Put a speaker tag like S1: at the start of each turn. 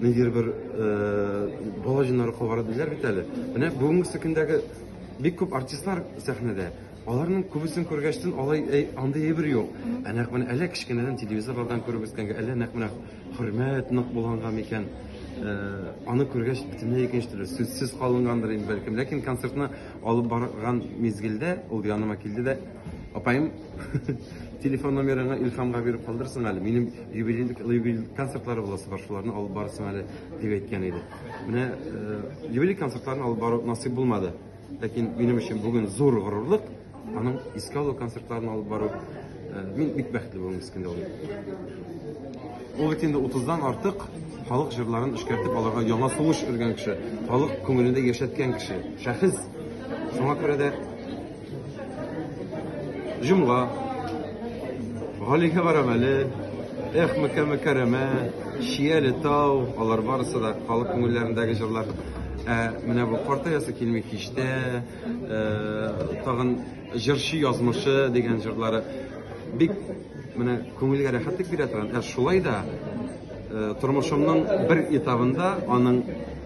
S1: Ниндидер бер бала җиннары кабара диләр бит әле. Менә бүгенге көндәге бик күп артистлар сәхнәдә. Аларның күбесен күргәчтен алай әй, андый әйбер юк. Ә нәкъ менә әле кечкенәдән телевизорлардан күреп үскәнгә, әллә нәкъ менә хөрмәт нык булганга микән? Э, аны күргәч бөтенләй икенче төрле сүзсез калынгандыр инде бәлкем. Ләкин концертны алып барган мизгелдә ул яныма килде дә Апаем, телефон номерыңа Илхамга биреп калдырсың әле. Минем юбилейлик юбилейлик концертлары буласы бар, шуларны алып барсын әле дип әйткән иде. Менә э, юбилейлик концертларын алып бару насыйп булмады. Ләкин минем өчен бүген зур горурлык аның искә алу концертларын алып бару. Э, мин бик бәхетле булдым искәндә ул. Ул бит инде 30-дан артык халык җырларын эшкәртеп аларга яңа сулыш өргән кеше, халык күңелендә яшәткән кеше, шәхес. Шуңа күрә дә Җомга. Галигә барам әле. Эх, Мәккә Мәкәрәмә, Шияле тау, алар барысы да халык күңелләрендәге җырлар. Ә менә бу картаясы килми киштә, э, тагын җырчы язмышы дигән җырлары бик менә күңелгә рәхәтлек бирә торган. Ә шулай да э, тормышымның бер этабында аның